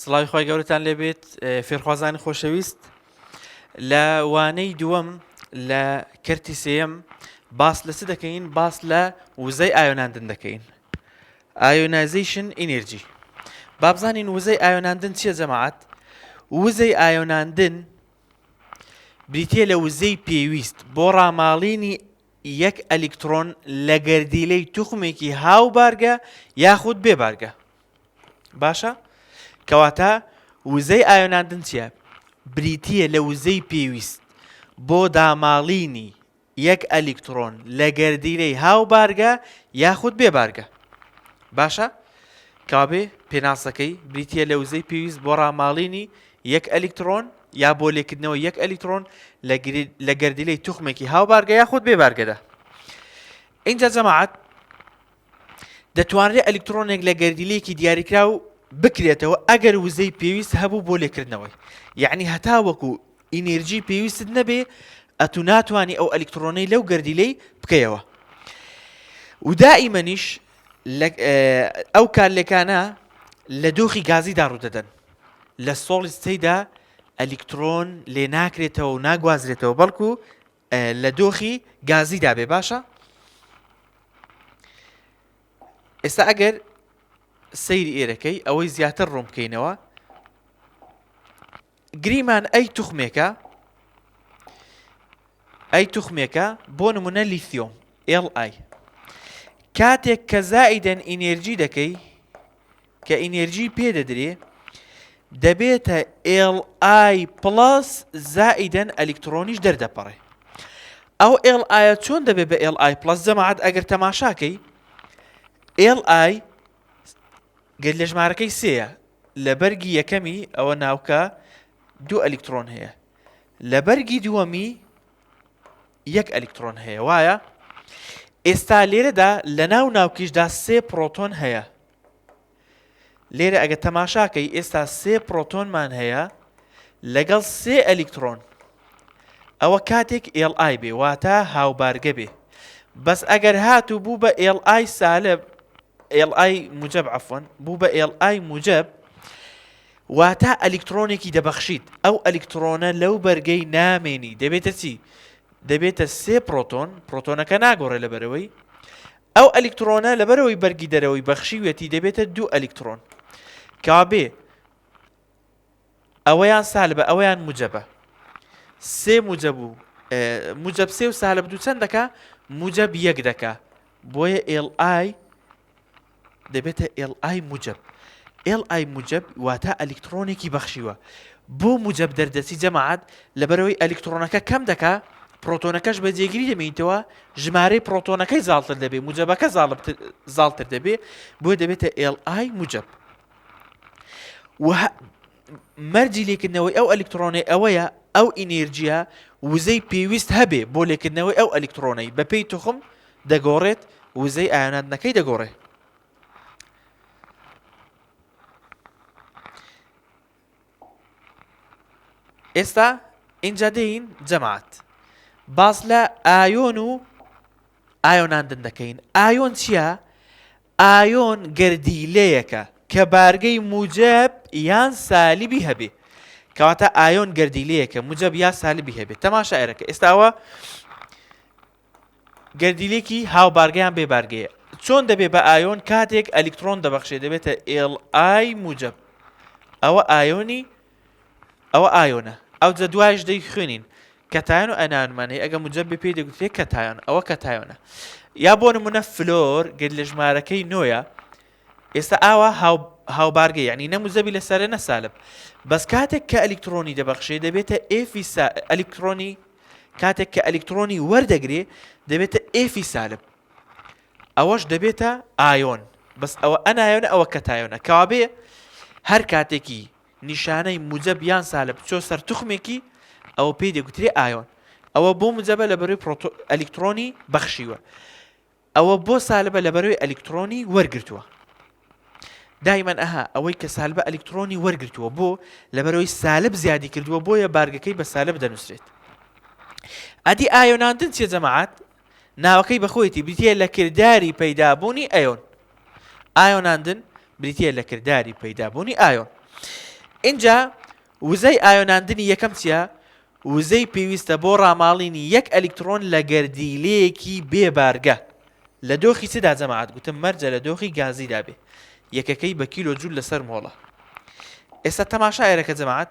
سڵاوی خوای گەورەتان لێبێت فێرخوازانی خۆشەویست لە وانەی دووەم لە کەرتی سێەم باس لە چ دەکەین باس لە وزەی ئایۆناندن دەکەین ئایۆنایزیشن ئینرجی بابزانین وزەی ئایۆناندن چیە جەماعات وزەی ئایۆناندن بریتە لە وزەی پێویست بۆ ڕاماڵینی یەک ئەلیکترۆن لە گەردیلەی توخمێکی هاو بارگە یاخود بێبارگە باشە کەواتە وزەی ئایۆناندن چیە بریتیە لە وزەی پێویست بۆ داماڵینی یەک ئەلیکترۆن لە گەردیلەی هاو بارگە یاخود بێ بارگە باشە کابێ پێناسەکەی بریتە لە وزەی پێویست بۆ ڕاماڵینی یەک ئەلیکترۆن یا بۆ لێکردنەوە یەک ئەلیکترۆن لە گەردیلەی توخمێکی هاو بارگە یاخود بێ بارگەدا اینجا جەماعات دەتوانرێت ئەلیکترۆنێک لە گەردیلەیەکی دیاریکراو بکرێتەوە ئەگەر وزەی پێویست هەبوو بۆ لێکردنەوەی یعنی هەتا وەکو ئینێرجی پێویستت نەبێ ئەتو ناتوانانی ئەو ئەلیکترۆنەی لەو گەردیلەی بکەیەوە ودائیمەنیش ئەو کارلێکانە لە دۆخی گازیدا ڕوودەدەن لە سۆڵی سیدا ئەلیکترۆن لێ ناکرێتەوە و ناگوازرێتەوە بەڵکو لە دۆخی گازیدا بێ باشە ئێستا ئەگەر سەیری ئێرەکەی ئەوەی زیاتر ڕوون بکەینەوە گریمان ئەی توخمێکە ئەی توخمێکە بۆ نمونە لیثۆم ئێڵ ئای کاتێک کە زائیدەن ئینێرجی دەکەی کە ئینێرجی پێ دەدرێ دەبێتە ئێڵ ئای پڵەس زائیدەن ئەلیکترۆنیش دەردەپەڕێ ئەو ئێڵ ئایا چۆن دەبێت بە ئێڵ ئای پڵەس جەماعات ئەگەر تەماشاکەی ئێڵ ئای گەر لە ژمارەکەی سەیە لە بەرگی یەکەمی ئەوە ناوکە دوو ئەلیکترۆن هەیە لە بەرگی دووەمی یەک ئەلیکترۆن هەیە وایە؟ ئێستا لێرەدا لە ناو ناوکیشدا سێ پرۆتۆن هەیە لێرە ئەگە تەماشاکەی ئێستا سێ پرۆتۆنمان هەیە لەگەڵ سێ ئەلیکترۆن ئەوە کاتێک ئێڵ ئای بێ واتە هاوبارگە بێ بەس ئەگەر هات و بوو بە ئێڵ ئای سالب ئێڵ ئای موجب عفۆن بوو بە ئێڵ ئای موجب واتا ئەلیکترۆنێکی دەبەخشیت، ئەو ئەلیکترۆنە لەو بەرگەی نامێنی دەبێتە چی؟ دەبێتە سێ پرۆتۆن، پرۆتۆنەکە ناگۆڕێ لە بەرەوەی، ئەو ئەلیکترۆنە لەبەرەوەی بەرگی دەرەوەی بەخشیویەتی دەبێتە دوو ئەلیکترۆن، کەوابێ ئەوەیان سالبە ئەوەیان موجەبە سێ موجە بوو موجب سێ و سالب دوو چەند دەکا موجب یەک دەکا بۆیە ئێڵ ئای دەبێتە ئێڵ ئای موجەب ئێڵ ئای موجەب واتا ئەلیکتڕۆنێکی بەخشیوە بۆ موجەب دەردەچی جەماعات لەبەرەوەی ئەلیکتڕۆنەکە کەم دەکا پرۆتۆنەکەش بە جێگیری دەمێنیتەوە ژمارەی پرۆتۆنەکەی زاڵتر دەبێ موجەبەکە زاڵتر دەبێ بۆ دەبێتە ئێڵ ئای موجەب مەرجی لێکردنەوەی ئەو ئەلکترۆنەی ئەوەیە ئەو ئینێرجیە وزەی پێویست هەبێ بۆ لێکردنەوەی ئەو ئەلکترۆنەی بەپێی توخم دەگۆڕێت وزەی ئایاناتنەکەی دەگۆڕێت ئێستا اینجا دێین جەماعات باس لە ئایۆن و ئایۆناندن دەکەین ئایۆن چییە؟ ئایۆن گەردیلەیەکە کە بارگەی موجەب یان سالبی هەبێ کەواتە ئایۆن گەردیلەیەکە موجەب یا سالبی هەبێت تەما شاعرەکە ئێستاوە گەردیلێکی هاوبارگەیان بێ بارگەیە چۆن دەبێ بە ئایۆن کاتێک ئەلیکترۆن دەبەخشێ دەبێتە ئێڵ ئای موجەب ئەوە ئایۆنی ئەوە ئایۆنە. ئەوجە دوایش دەی خوێنین. کەتایۆن و ئەنایۆنمان هەیە، ئەگەر موجەبێ پێی دەگوترێ کەتایۆن، ئەوە کەتایۆنە. یا بۆ نموونە فلۆر گەر لە ژمارەکەی نۆیە، ئێستا ئاوا هاوبارگەی یعنی نە موجەبی لە سەرە نە سالب. بەس کاتێک کە ئەلیکترۆنی دەبەخشێ دەبێتە ئێفی سا ئەلیکترۆنی کاتێک کە ئەلیکترۆنی وەردەگرێ دەبێتە ئێفی سالب. ئەوەش دەبێتە ئایۆن بەس ئەوە ئەنایۆنە ئەوە کەتایۆنە کەوابێ هەر کاتێکی نیشانەی موجەب یان سالب بچۆ سەر توخمێکی ئەوە پێی دەگوترێ ئایۆن ئەوە بۆ موجەبە لە بەروی پرۆتۆ ئەلیکترۆنی بەخشیوە ئەوە بۆ سالبە لە بەروی ئەلیکترۆنی وەرگرتووە دایمەن ئەها ئەوەی کە سالبە ئەلیکترۆنی وەرگرتووە بۆ لە بەرەوەی سالب زیادی کردووە بۆیە بارگەکەی بە سالب دەنووسرێت ئەدی ئایۆناندن چیە جەماعات ناوەکەی بەخۆیەتی بریتییە لە کرداری پەیدابوونی ئەیۆن ئایۆناندن بریتییە لە کرداری پەیدابوونی ئایۆن اینجا وزەی ئایۆناندنی یەکەم چییە وزەی پێویستە بۆ ڕاماڵینی یەک ئەلیکترۆن لە گەردیلەیەکی بێبارگە لە دۆخی چدا جەماعات گوتم مەرجە لە دۆخی گازیدا بێ یەکەکەی بە کیلۆ جوول لەسەر مۆڵە ئێستا تەماشا ئێرەکە جەماعات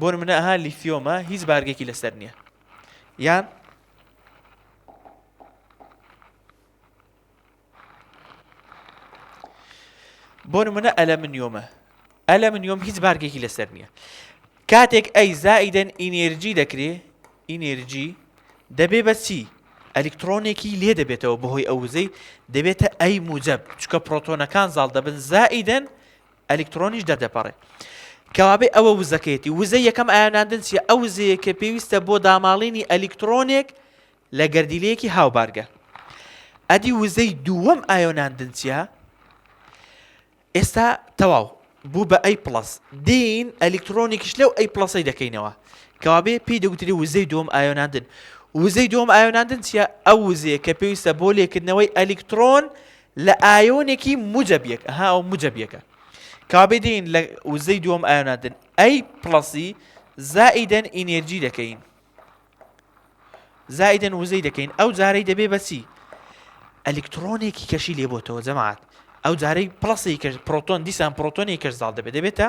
بۆ نمونە ئەها لیثیۆمە هیچ بارگێکی لەسەر نییە یان بۆ نمونە ئەلە منیۆمە ئەلە منیۆم هیچ بارگێکی لەسەر نییە کاتێک ئەی زائیدەن ئینێرجی دەکرێ ئینێرجی دەبێ بە چی ئەلکترۆنێکی لێ دەبێتەوە بەهۆی ئەو وزەی دەبێتە ئەی موجب چکە پرۆتۆنەکان زاڵ دەبن زائیدەن ئەلیکترۆنیش دەردەپەڕێ. کەوابێ ئەوە وزەکەیەتی. وزەی یەکەم ئایۆناندن چییە؟ ئەو وزەیە کە پێویستە بۆ داماڵینی ئەلیکترۆنێک لە گەردیلەیەکی هاوبارگە. ئەدی وزەی دووەم ئایۆناندن چییە؟ ئێستا تەواو بوو بە ئەی پلس دین ئەلیکترۆنیکش لەو ئەی پلسەی دەکەینەوە کەوابێ پێی دەگوتری وزەی دوم ئایۆناندن وزەی دوم ئایۆناندن چیە ئەو وزەیە کە پێویستە بۆ لێکردنەوەی ئەلیکترۆن لە ئایۆنێکی موجەب یەک ئەها ئەو موجەب یەکە کابێ دێین لە وزەی دووەم ئایۆناتن ئەی پڵەسی زائیدەن ئینێرجی دەکەین زائیدەن وزەی دەکەین ئەو جارەی دەبێ بەچی ئەلکترۆنێکی کەشی لێبتەوە جەماعات ئەو جارەی پڵسی کەش پرۆتۆن دیسان پرۆتۆنی کەش زاڵ دەبێت دەبێتە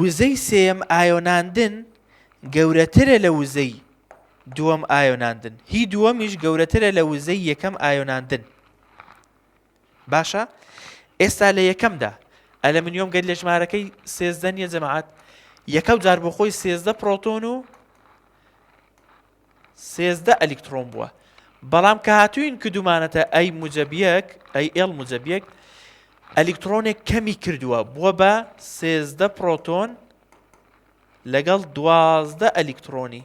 وزەی سێیەم ئایۆناندن گەورەترە لە وزەی دووەم ئایۆناندن هی دووەمیش گەورەترە لە وزەی یەکەم ئایۆناندن باشە ئێستا لە یەکەمدا ئەلمنیۆم گەل لە ژمارەکەی سێزدە نیە جەماعات یەکەم جار بۆ خۆی سێزدە پرۆتۆن و سێزدە ئەلیکتڕۆن بووە بەڵام کە هاتووین کردومانەتە ئەی موجب یەک ئەی ئێڵ موجب یەک ئەلیکترۆنێک کەمی کردووە بووە بە سێزدە پرۆتۆن لەگەڵ دوازدە ئەلیکترۆنی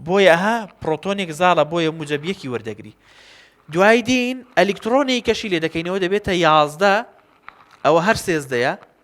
بۆیە ها پرۆتۆنێک زاڵە بۆیە موجبیەکی وەردەگری دوای دین ئەلیکترۆنی کەشی لێ دەکەینەوە دەبێتە یازدە ئەوە هەر سێزدەیە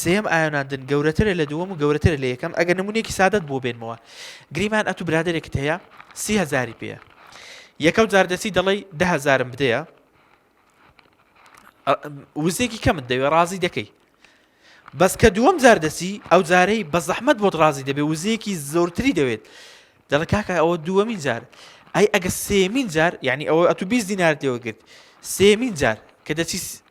سێیەم ئایۆناندن گەورەترە لە دووەم و گەورەترە لە یەکەم ئەگەر نمونێکی سادەت بۆ بێنمەوە گریمان ئەتو برادێکت هەیە سی هزاری پێە یەکەو جاردەسی دەڵی ده هزارم بدەیە وزێکی کەمت دەوێ ڕازی دەکەی بەس کە دووەم جار دەسی ئەو جارەی بە زەحمت بۆت ڕازی دەبێ وزێکی زۆرتری دەوێت دەڵ کاکە ئەوە دووەمین جار ئەی ئەگە سێمین جار یعنی ئەوە ئەتو بیست دینار دێوەگرت سێمین جار کە دەچی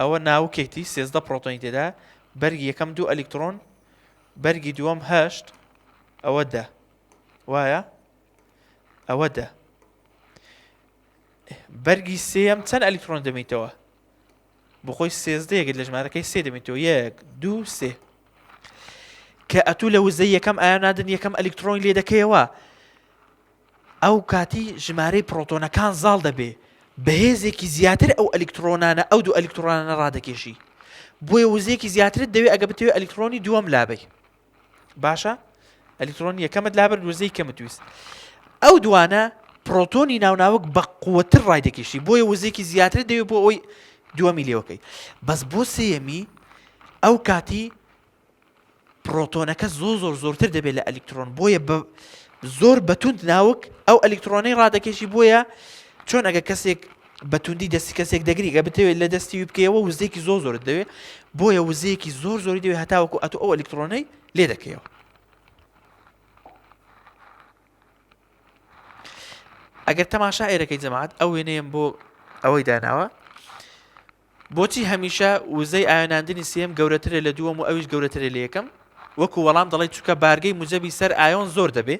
ئەوە ناوکێتی سێزدە پرۆتۆنی تێدا بەرگی یەکەم دوو ئەلیکترۆن بەرگی دووەم هەشت ئەوە دە وایە ئەوە دە بەرگی سێم چەند ئەلیکترۆن دەمیتەوە بخۆی سێزدە یەکت لە ژمارەکەی سێ دەمیتەوە یەک دوو سێ کە ئەتوو لە وزە یەکەم ئایا نادن یەکەم ئەلیکترۆنی لێ دەکەیەوە ئەو کاتی ژمارەی پڕۆتۆنەکان زاڵ دەبێ بە هێزێکی زیاتر ئەو ئەلیکترۆنانە ئەو دوو ئەلیکترۆنانە ڕادەکێشی بۆیە وزەیەکی زیاترت دەوێت ئەگە بتوێت ئەلیکترۆنی دووەم لابی باشە ئەلیکترۆن یەکەمت لابەر وزەی کەمت ویست ئەو دوانە پرۆتۆنی ناوناوک بە قوتر ڕای دەکیشتی بۆیە وزێکی زیاتر دەوێت بۆ ئەوی دووەمی لێوەکەی بەس بۆ سێەمی ئەو کاتی پرۆتۆنەکە زۆر زۆر زۆرتر دەبێت لە ئەلکترۆن بۆیە بە زۆر بەتوند ناوک ئەو ئەلکترۆنەی ڕادەکەشی بۆیە چۆن ئەگە کەسێک بەتوندی دەستی کەسێک دەگریگە بتەوێت لە دەستی بکەیەوە وزێکی زۆر زۆر دەوێت بۆیە وزەیەکی زۆر زۆری دەوێت هەتاوەکو ئەتو ئەو ئەلکترۆنەی لێ دەکەیەوە ئەگەر تەماشا ئێرەکەی جەماعات ئەو وێنەیەم بۆ ئەوەی داناوە بۆچی هەمیشە وزەی ئایۆناندنی سێیەم گەورەترە لە دووەم و ئەویش گەورەترە لە یەکەم؟ وەکو وەڵام دەڵێی چونکە بارگەی موجەبی سەر ئایۆن زۆر دەبێ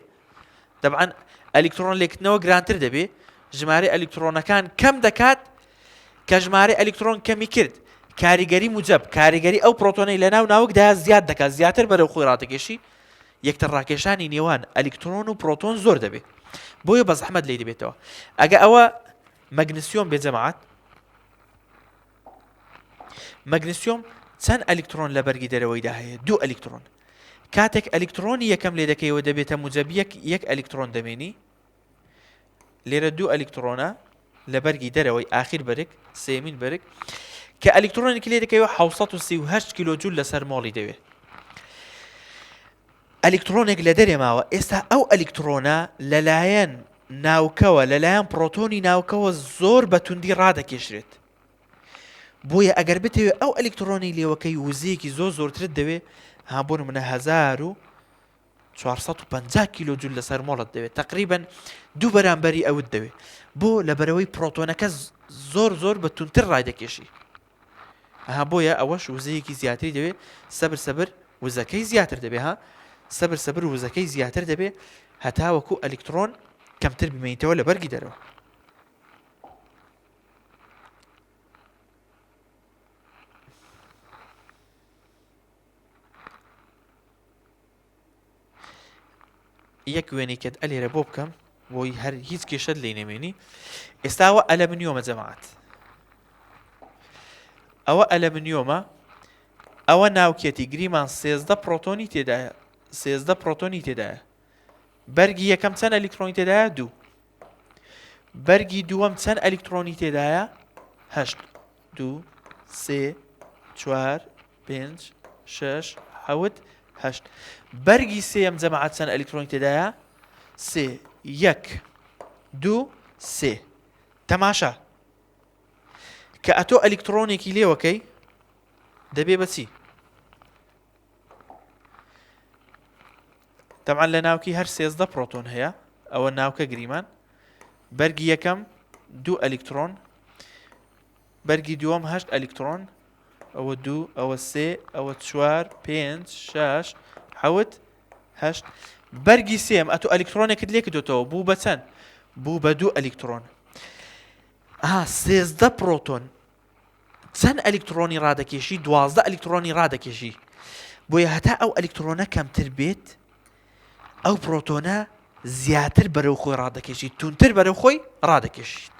تەبعەن ئەلیکتڕۆن لێکتنەوە گرانتر دەبێ ژمارەی ئەلیکتڕۆنەکان کەم دەکات کە ژمارەی ئەلیکتڕۆن کەمی کرد کاریگەری موجب کاریگەری ئەو پرۆتۆنەی لە ناو ناوکدا زیاد دەکات زیاتر بەرەو خۆی ڕاتەکێشی یەکتر ڕاکێشانی نێوان ئەلیکترۆن و پرۆتۆن زۆر دەبێت بۆیە بە زەحمەت لی دەبێتەوە ئەگە ئەوە مەگنسیۆم بێجەماعات مەگنسیۆم چەند ئەلیکترۆن لە بەرگی دەرەوەیدا هەیە دوو ئەلیکترۆن کاتێک ئەلیکترۆنی یەکەم لێ دەکەیەوە دەبێتە موجەبیەک یەک ئەلیکترۆن دەمێنی لێرە دوو ئەلیکترۆنە لە بەرگی دەرەوەی آخر بەرگ سێمین بەرگ کە ئەلیکترۆنێکی لێ دەکەوە 1970 کیلوجول لەسەر مۆڵی دەوێت ئەلیکتڕۆنێک لە دەرێ ماوە، ئێستا ئەو ئەلیکتڕۆنە لەلایەن ناوکەوە، لەلایەن پڕۆتۆنی ناوکەوە زۆر بە توندی ڕادەکێشرێت. بۆیە ئەگەر بتەوێت ئەو ئەلیکتڕۆنی لێوەکەی وزەیەکی زۆر زۆرترت دەوێت، ها بۆ نمونە هەزار و 450 کیلو جول لەسەر مۆڵت دەوێت تقریبن دوو بەرامبەری ئەوت دەوێت بۆ لەبەرەوەی پرۆتۆنەکە زۆر زۆر بە تونتر ڕای دەکێشی ئەها بۆیە ئەوەش وزەیەکی زیاتری دەوێ سەبر سەبر وزەکەی زیاتر دەبێ ها سەبر سەبر وزەکەی زیاتر دەبێ هەتاوەکو ئەلیکترۆن کەمتر بمێنیتەوە لە بەرگی دەرەوە یەک وێنەی کەت ئەلێرە بۆ بکەم بۆی هەر هیچ کێشت لی نەمێنی ئێستاوە ئەلە منیۆمە جەماعات ئەوە ئەلە منیۆمە ئەوە ناوکێتی گریمان سێزدە پرۆتۆنی تێدایە سێزدە پرۆتۆنی تێدایە بەرگی یەکەم چەند ئەلیکترۆنی تێدایە دوو بەرگی دووەم چەند ئەلیکترۆنی تێدایە هەشت دوو سێ چوار پێنج شش حەوت هەشت بەرگی سێم جەماعات چەند ئەلیکترۆنی تێدایە سێ یەک دوو سێ تەماشا کە ئەتۆ ئەلیکترۆنێکی لێوەکەی دەبێ بەچی تەبعەن لە ناوکی هەر سێزدە پڕۆتۆن هەیە ئەوە ناوکە گریمان بەرگی یەکەم دوو ئەلیکترۆن بەرگی دووەم هەشت ئەلیکترۆن ئەوە دوو ئەوە سێ ئەوە چوار پێنج شش حەوت هەشت بەرگی سێم ئەتو ئەلیکترۆنێکت لێ کردوتەوە بوو بە چەند بوو بە دوو ئەلیکترۆن ها سێزدە پرۆتۆن چەند ئەلیکترۆنی ڕادەکێشی دوازدە ئەلیکترۆنی ڕادەکێشی بۆیە هەتا ئەو ئەلیکترۆنە کەمتر بێت ئەو پرۆتۆنە زیاتر بەرەو خۆی ڕادەکێشی تونتر بەرەو خۆی ڕادەکێشیت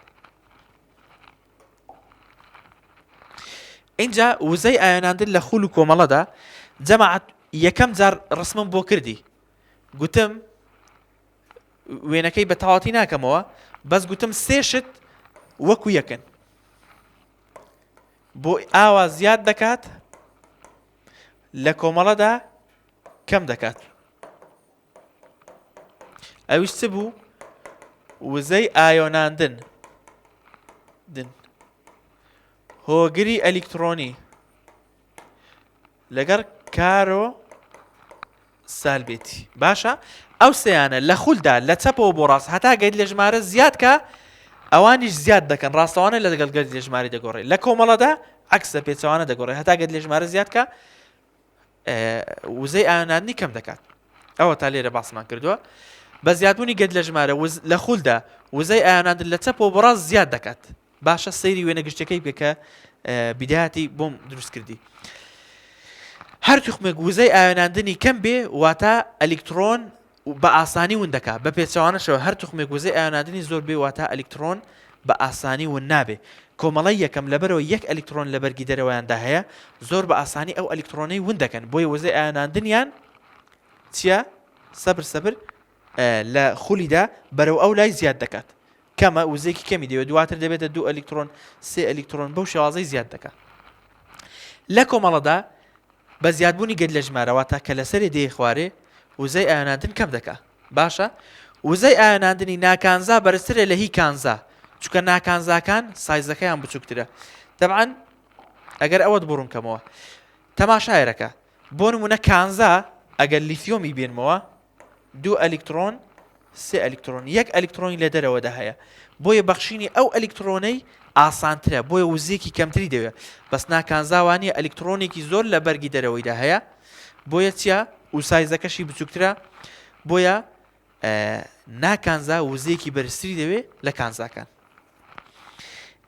اینجا وزەی ئایۆناندن لە خول و کۆمەڵەدا جەماعات یەکەم جار ڕسمم بۆ کردی گوتم وێنەکەی بە تەواتی ناکەمەوە بەس گوتم سێ شت وەکو یەکن بۆ ئاوا زیاد دەکات لە کۆمەڵەدا کەم دەکات ئەویش چ بوو وزەی ئایۆناندن دن هۆگری ئەلیکترۆنی لەگەڵ کارۆ سالبێتی باشە ئەو سیانە لە خولدا لە چەپەوە بۆ ڕاست هەتا گەیت لە ژمارە زیاد کە ئەوانیش زیاد دەکەن ڕاستەوانە لە دەگەڵ گەرد لە ژماری دەگۆڕێت لە کۆمەڵەدا عکسە پێچوانە دەگۆڕێت هەتا گەت لە ژمارە زیاد کە وزەی ئاەنانی کەم دەکات ئەوە تا لێرە باسمان کردووە بە زیادبوونی گەت لە ژمارە لە خولدا وزەی ئاەناندن لە چەپەوە بەڕاست زیاد دەکات باشە سەیری وێنە گشتەکەی بکە کە بیداتی بۆم دروست کردی هەر توخمێک وزەی ئاوێناندنی کەم بێ واتە ئەلیکترۆن بە ئاسانی ون دەکا بە پێچوانەشەوە هەر توخمێک وزەی ئاوێناندنی زۆر بێ واتە ئەلیکترۆن بە ئاسانی ون نابێ کۆمەڵی یەکەم لەبەرەوە یەک ئەلیکترۆن لە بەرگی دەرەوەیاندا هەیە زۆر بە ئاسانی ئەو ئەلیکترۆنەی ون دەکەن بۆی وزەی ئاوێناندنیان چییە سەبر سەبر لە خولیدا بەرەو ئەو لای زیاد دەکات کەمە، وزەیەکی کەمی دەوێت، دواتر دەبێتە دوو ئەلیکترۆن، سێ ئەلیکترۆن بەو شێوازەی زیاد دەکا. لە کۆمەڵەدا بە زیادبوونی گەد لە ژمارە واتە کە لەسەرێ دێ خوارێ وزەی ئایۆناندن کەم دەکا. باشە وزەی ئایۆناندنی ناکانزا بەرزترە لە هی کانزا چونکە ناکانزاکان سایزەکەیان بچووکترە. تەبعەن ئەگەر ئەوەت بۆ ڕوون کەمەوە تەماشایەرەکە بۆ نمونە کانزا ئەگەر لیثیۆمی بێنمەوە دوو ئەلیکترۆن سێ ئەلیکترۆن یەک ئەلیکترۆنی لە دەرەوەدا هەیە بۆیە بەخشینی ئەو ئەلیکترۆنەی ئاسانترە بۆیە وزیەکی کەمتری دەوێت بەس ناکانزاوانی ئەلیکترۆنێکی زۆر لە بەرگی دەرەوەیدا هەیە بۆیە چیا وسایزەکەشی بچووکترە بۆیە ناکانزا وزیەکی بەرزتری دەوێت لە کانزاکان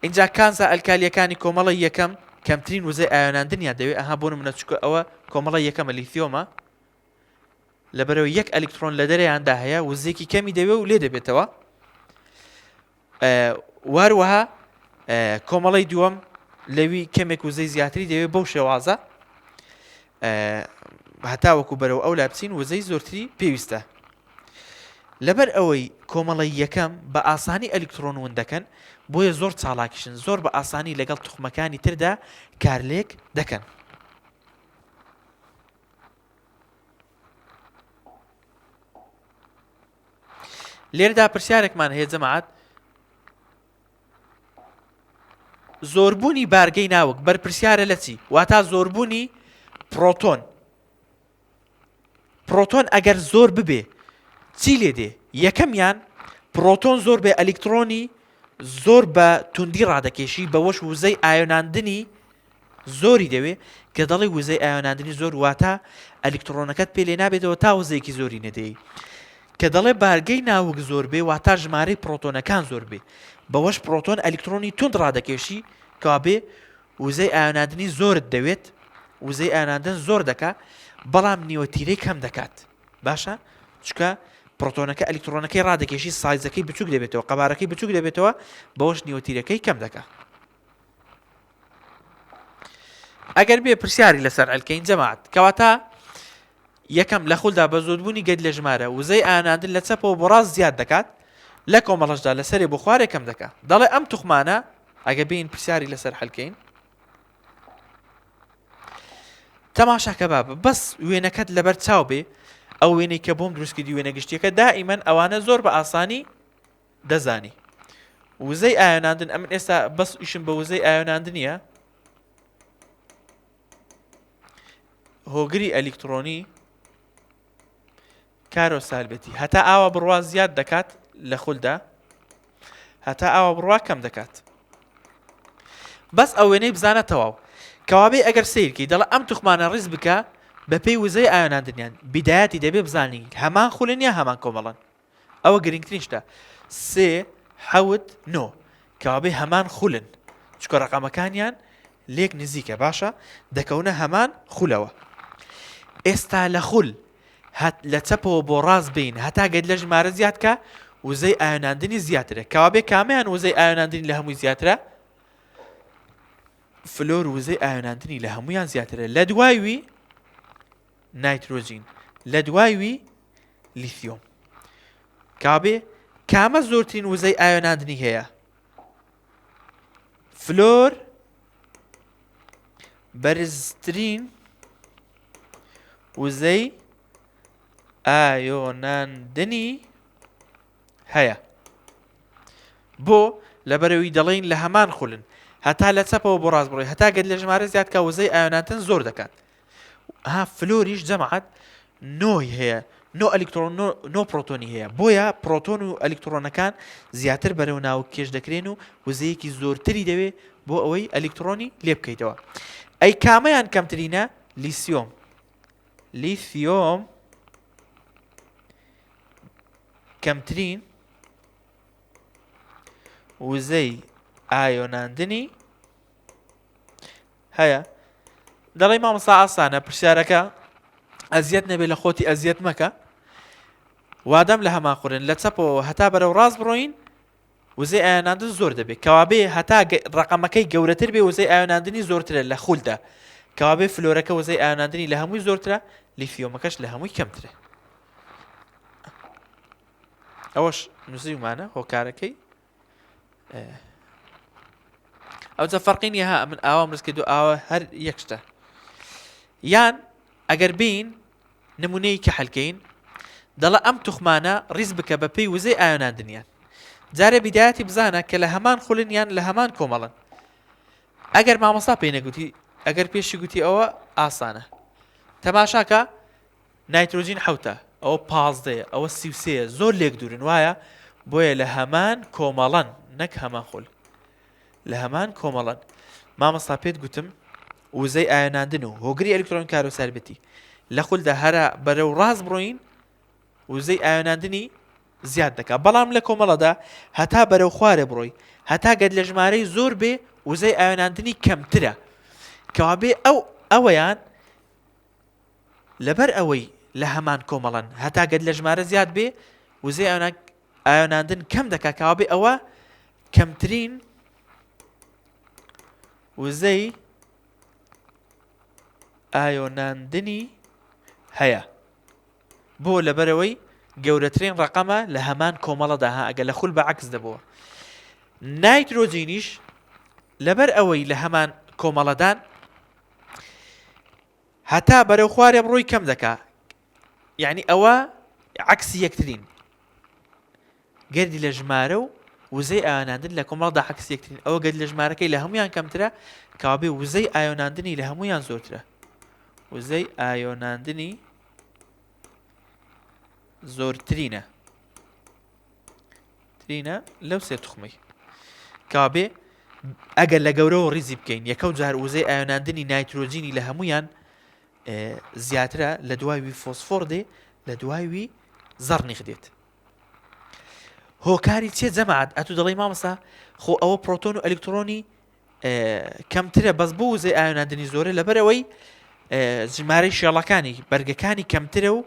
اینجا کانزا ئەلکالیەکانی کۆمەڵی یەکەم کەمترین وزەی ئایۆناندنیان دەوێت ئەها بۆ منە چکە ئەوە کۆمەڵی یەکەمە لیثۆمە لەبەرەوەی یەک ئەلیکترۆن لە دەرەیاندا هەیە وزێکی کەمی دەوێ و لێ دەبێتەوە واروەها کۆمەڵی دووەم لەوی کەمێک وزەی زیاتری دەوێت بەو شێوازە هەتا وەکو بەرەوە ئەو لا بچین وزەی زۆرتری پێویستە لەبەر ئەوەی کۆمەڵی یەکەم بە ئاسانی ئەلکترۆن ون دەکەن بۆیە زۆر چاڵاکیشن زۆر بە ئاسانی لەگەڵ توخمەکانی تردا کارلێک دەکەن. لێردا پرسیارێکمان هەیە جەماعات زۆربوونی بارگەی ناوک بەرپرسیارە لە چی واتا زۆربوونی پرۆتۆن پرۆتۆن ئەگەر زۆر ببێ چی لێ دێ یەکەمیان پرۆتۆن زۆر بێ ئەلیکترۆنی زۆر بە توندی ڕادەکێشی بەوەش وزەی ئایۆناندنی زۆری دەوێ، کە دەڵێ وزەی ئایۆناندنی زۆر واتا ئەلیکتڕۆنەکەت پێ لێنابێتەوە تا وزەیەکی زۆری نەدەی. کە دەڵێ بارگەی ناوک زۆر بێ واتا ژمارەی پڕۆتۆنەکان زۆر بێ. بەوەش پڕۆتۆن ئەلیکتڕۆنی توند ڕادەکێشی کەوابێ وزەی ئایۆناندنی زۆرت دەوێت وزەی ئایۆناندن زۆر دەکا بەڵام نیوە تیرەی کەم دەکات باشە چکە پرۆتۆنەکە ئەلیکترۆنەکەی ڕادەکێشی سایزەکەی بچوک دەبێتەوە قەبارەکەی بچوک دەبێتەوە بەوەش نیوەتیرەکەی کەم دەکە ئەگەر بێ پرسیاری لەسەر ئەلکەین جەماعات کەواتە یەکەم لە خولدا بە زۆربوونی گەت لە ژمارە وزەی ئاناندن لە چەپەوە بۆ ڕاست زیاد دەکات لە کۆمەڵشدا لەسەری بۆ خوارێ کەم دەکات دەڵێ ئەم توخمانە ئەگە بین پرسیاری لەسەر حلکەین تەماشاکە باب بەس وێنەکەت لەبەر چاو بێ ئەو وێنەی کە بۆم دروستکردی وێنە گشتیەکە دائیمەن ئەوانە زۆر بە ئاسانی دەزانی وزەی ئایۆناندن ئەمن ئێستا بەس ئیشم بە وزەی ئایۆناندنیە هۆگری ئەلیکترۆنی کارۆ سالبێتی هەتا ئاوا بڕوا زیاد دەکات لە خولدا هەتا ئاوا بڕوا کەم دەکات بەس ئەو وێنەی بزانە تەواو کەوابێ ئەگەر سیرکی دەڵە ئەم توخمانە ڕیز بکە بەپێی وزەی ئایۆناندنیان بیدایەتی دەبێ بزانین هەمان خولن یا هەمان کۆمەڵن ئەوە گرنگترین شتە سێ حەوت نۆ کەوابێ هەمان خولن چکە ڕقەمەکانیان لێک نزیکە باشە دەکەونە هەمان خولەوە ئێستا لە خول لە چەپەوە بۆ ڕاست بین هەتا گەت لە ژمارە زیادکە وزەی ئاەناندنی زیاترە کەوابێ کامیان وزەی ئاەناندنی لە هەمووی زیاترە فلۆر وزەی ئاەناندنی لە هەمویان زیاترە لە دوایوی نایترۆجین لە دوای وی لیثیۆم کابێ کامە زۆرترین وزەی ئاوێناندنی هەیە فلۆر بەرزترین وزەی ئایۆناندنی هەیە بۆ لەبەرەوەی دەڵێن لە هەمان خولن هەتا لە چەپەوە بۆ ڕاست بڕۆی هەتا گەت لە ژمارە زیادکە وزەی ئایۆناتن زۆر دەکات ها فلۆریش جەمعات نۆی هەیە نۆ ئەلیکترۆن نۆ پرۆتۆنی هەیە بۆیە پرۆتۆن و ئەلیکترۆنەکان زیاتر بەرەو ناوک کێش دەکرێن و وزەیەکی زۆرتری دەوێ بۆ ئەوەی ئەلیکترۆنی لێ بکەیتەوە ئەی کامەیان کەمترینە لیسیۆم لیسیۆم کەمترین وزەی ئایۆناندنی هەیە دەڵی مامۆسا ئاسانە پرسیارەکە ئەزیەت نەبێ لە خۆتی ئەزیەت مەکە وادەم لە هەمان قورن لە چەپەوە هەتا بەرەو ڕاست بڕۆین وزێ ئاەناندن زۆر دەبێت کەوابێ هەتا ڕقەمەکەی گەورەتر بێ وزەی ئاەناندنی زۆرترە لە خولدا کەوابێ فلۆرەکە وزەی ئاەناندنی لە هەمووی زۆرترە لیفیۆمەکەش لە هەمووی کەمترە ئەوەش نووسیمانە هۆکارەکەی ئەوجا فەرقی نیە ها من ئاوا مرز کردو ئاوا هەر یەک شتە یان ئەگەر بین نمونەی کە حلکەین دەڵە ئەم توخمانە ڕیز بکە بە پێی وزەی ئایۆناندنیان جارێ بیدایەتی بزانە کە لە هەمان خولنیان لە هەمان کۆمەڵن ئەگەر مامۆستا پێی نەگوتی ئەگەر پێشی گوتی ئەوە ئاسانە تەماشاکە نایترۆجین حەوتە، ئەوە پازدەیە، ئەوە سی و سێیە، زۆر لێک دوورن وایە؟ بۆیە لە هەمان کۆمەڵەن نەک هەمان خول. لە هەمان کۆمەڵەن. مامۆستا پێت گوتم وزەی ئایۆناندن و هۆگری ئەلیکترۆنی کارۆساربێتی لە خولدا هەرا بەرەو ڕاست بڕۆین وزەی ئایۆناندنی زیاد دەکا بەڵام لە کۆمەڵەدا هەتا بەرەو خوارێ بڕۆی هەتا گەر لە ژمارەی زۆر بێ وزەی ئایۆناندنی کەمترە کەوابێ ئەو ئەوەیان لەبەر ئەوەی لە هەمان کۆمەڵەن هەتا گەد لە ژمارە زیاد بێ وزەی ئاوێناندن کەم دەکا کاوابێ ئەوە کەمترین وزەی ئایۆناندنی هەیە بۆ لەبەرەوەی گەورەترین ڕقەمە لە هەمان کۆمەڵەدا ها ئەگە لە خول بە عکس دەبووە نایترۆجینیش لەبەر ئەوەی لە هەمان کۆمەڵەدان هەتا بەرەو خوارێ بڕۆی کەم دەکا یعنی ئەوە عکسی یەکترین گردی لە ژمارە و وزەی ئاوێناندن لە کۆمەڵدا عکس یەکترین ئەوە گەل لە ژمارەکەی لە هەمویان کەمترە کاابێ وزەی ئاۆناندنی لە هەمویان زۆرترە وزەی ئاۆناندنی زۆرترینە ترینە لەو سێ تخمەی کابێ ئەگەر لە گەورەوە ڕیزی بکەین یەکەو جار وزەی ئاەناندنی نایترۆجینی لە هەمویان زیاترە لە دوایوی فۆسفۆر دێ لە دوایوی زەڕنیخ دێت هۆکاری چێ جەماعات ئەتو دەڵی مامەسا خۆ ئەوە پرۆتۆن و ئەلکترۆنی کەمترە بەس بۆ وزەی ئاەناندنی زۆرە لەبەرەوەی ژمارەی شێڵەکانی بەرگەکانی کەمترە و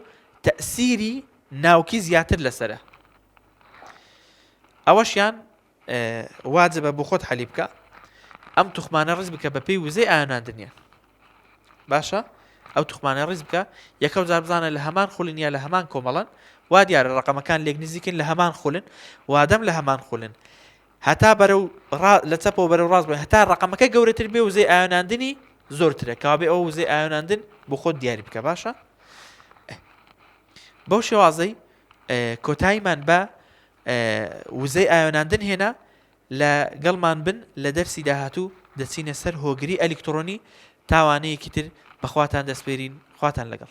تەسیری ناوکی زیاتر لەسەرە ئەوەشیان واجبە بۆ خۆت حەلی بکە ئەم توخمانە ڕز بکە بە پێی وزەی ئاەناندنیە باشە ئەو توخمانە ڕز بکە یەکەم جار بزانە لە هەمان خولن یا لە هەمان کۆمەڵن وا دیارە ڕقەمەکان لێک نزیکن لە هەمان خولن وادەم لە هەمان خولن هەتا بەرە و لە چەپەوە بەرە ڕاست بە هەتا ڕقەمەکە گەورەتر بێ وزەی ئاەناندنی زۆرترە کابێ ئەو وزەی ئاەناندن بۆ خۆت دیاری بکە باشە بەو شێوازەی کۆتاییمان بە وزەی ئایۆناندن هێنا لە گەڵمان بن لە دەرسی داهاتوو دەچینە سەر هۆگری ئەلیکترۆنی تاوانەیەکی تر بەخواتان دەستپێرین خواتان لەگەڵ